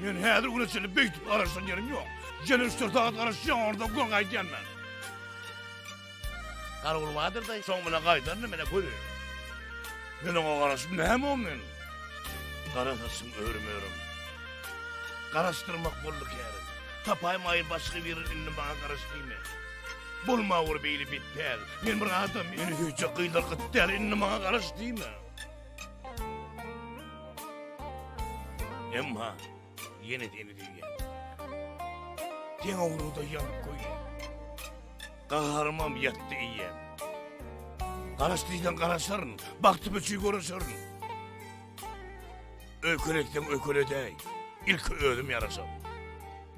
Men häzir güne çenli beýtip garaşan ýerim ýok. Ýene üç-dört sagat garaşýan, ondan göň gaýdýan men. Garagul bardyr-da, soň bilen gaýdaryn, men-ä göreýin. Men oňa garaşyp näme o men? Gara saçym örüm-örüm. Garaşdyrmak boldy kärim. Tapaýmaýyn başga bir indi maňa garaş diýme. Bolma bir beýle betpäl. Men bir adam, meni söýjek gyzlar gyt däl, indi maňa garaş diýme. Emma ýene deni diýýär. Deň owruda ýanyp goýýar. Gaharymam ýatdy iýýär. Garaş diýseň garaşaryn, bagty biçi görüşerin. Öýkeletsem öýkeledäý, ilki özüm ýaraşar.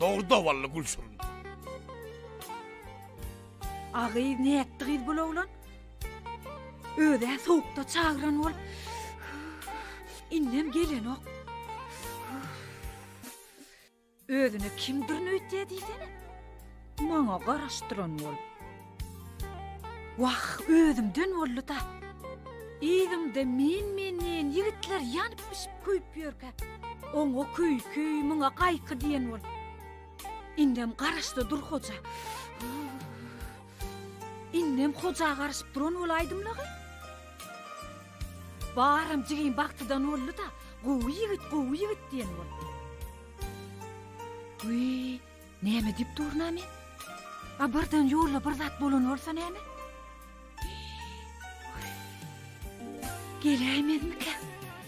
Dogry dawally gülşirin. A gyz nätdi gyz bul oglan? Özä sowukda çagyran bolup, indem gelenok. Özüne kimdirin öýtýä diýsene. Maňa garaşdyran bol. Wah, özümden boldy da. Ýygyňda men-menden ýigitler ýanyp bişip köýüp ýörkä. Oňa köýki, muňa gaýky diýen bol. Indem garaşdy dur hoja. Indem hoja garyşyp duran bol aýdymlagy. Baram jigim bagtydan boldy-da, gowy ýigit, gowy ýigit diýen bol. Wiý, näme diýip durna men? A birden ýolda bir zat bolan bolsa näme? Geleýmezmika?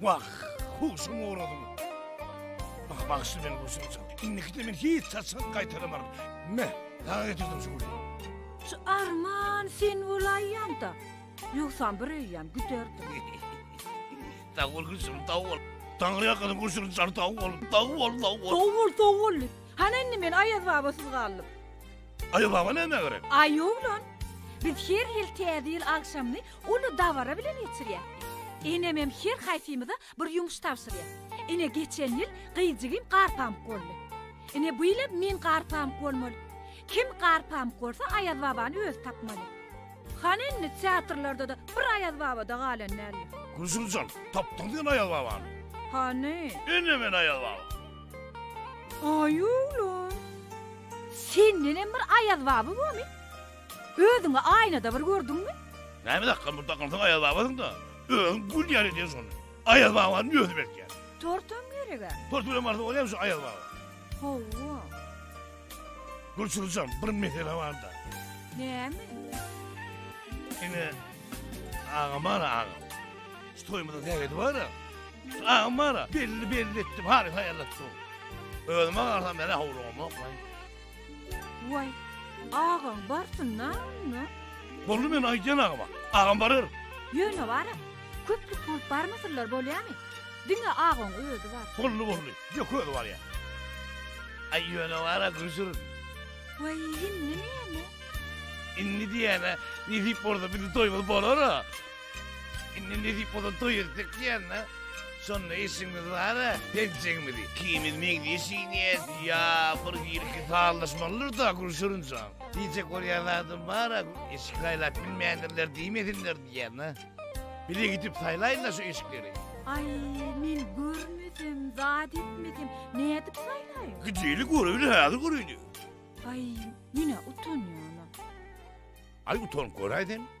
Wah, huşum ugrady. Mah bagşy meni gurşunça. Indikide men hiç saçak gaýtalamaryn. Me, daga getirdim şu gülü. Şu arman sen bolaýanda, ýogsam bir öýýän güderdim. Sag bol gülşim, sag bol. Taňry ýakadan gurşuny çar sag bol. Sag bol, sag bol. Sag bol, sag bol. Hany indi men Aýaz babasyz galdym. Aýaz baba näme gerek? Aý oglan, biz her ýyl täze ýyl agşamyny Uly dabara bilen geçirýärdi. Enemem her haýsymyza bir ýumuş tabşyrýar. Ine geçen ýyl gyýjigim garpamyk boldy. Ine bu ýylam men garpamyk bolmaly. Kim garpamyk bolsa Aýaz babany özi tapmaly. Hany indi teatrlarda-da bir Aýaz baba-da galan däldir. Gülsümjan, tapdyňmy sen Aýaz babany? Hany? Ine men Aýaz baba. Aý oglum! Sendenem bir Aýaz baba bormy? Özüňi aýnada bir gördüňmi? Näme dakgam bir dakgynsyň Aýaz babasyňda. Özüň gül ýaly edýän şony. Aýaz babanyň özi berkýär. Tortam gerek-ä. Tort bilen barsa bolýamy şu Aýaz baba? Hawa. Gulçulujam bir mesele barda. Näme? Ine agam bar-a agam. Şu toýumyzyň sähedi bar-a. Şu agam bar-a belli belli etdim haly haýallatdym. Özüme garsam menä howlugam oklan. Waý, agaň barsynda onda? Boldy men aýdýan agama. Agam barar. Ýöne bar-a, köplük bolup barmasynlar bolýamy? Diňe agaň özi bar. Boldy, boldy. Ýok, özi barýa. Aý, ýöne bar-a, Güjür. Waý, indi näme? Indi diýýän-ä, nesip bolsa biziň toýumyz bolar-a. Indi nesip bolsa doýursak diýýän-de. Şonda işimiz bar-a, penjegimizi ikimiz meňzeş iýýäs. Ýa bir girki sallaşmalydyr-da, Gülşirinjan. Diýjek bolýan zadym bar-a, eşik saýlap bilmändirler diýmesinler diýýän-de. Bile gidip saýlaýyn-da şu eşikleri. Aý, men görmesem, zat etmesem, nädip saýlaýyn? Gideli göreýli, häzir göreýli. Aý, men-ä utanýan-a. Aý, utanyp göräý sen.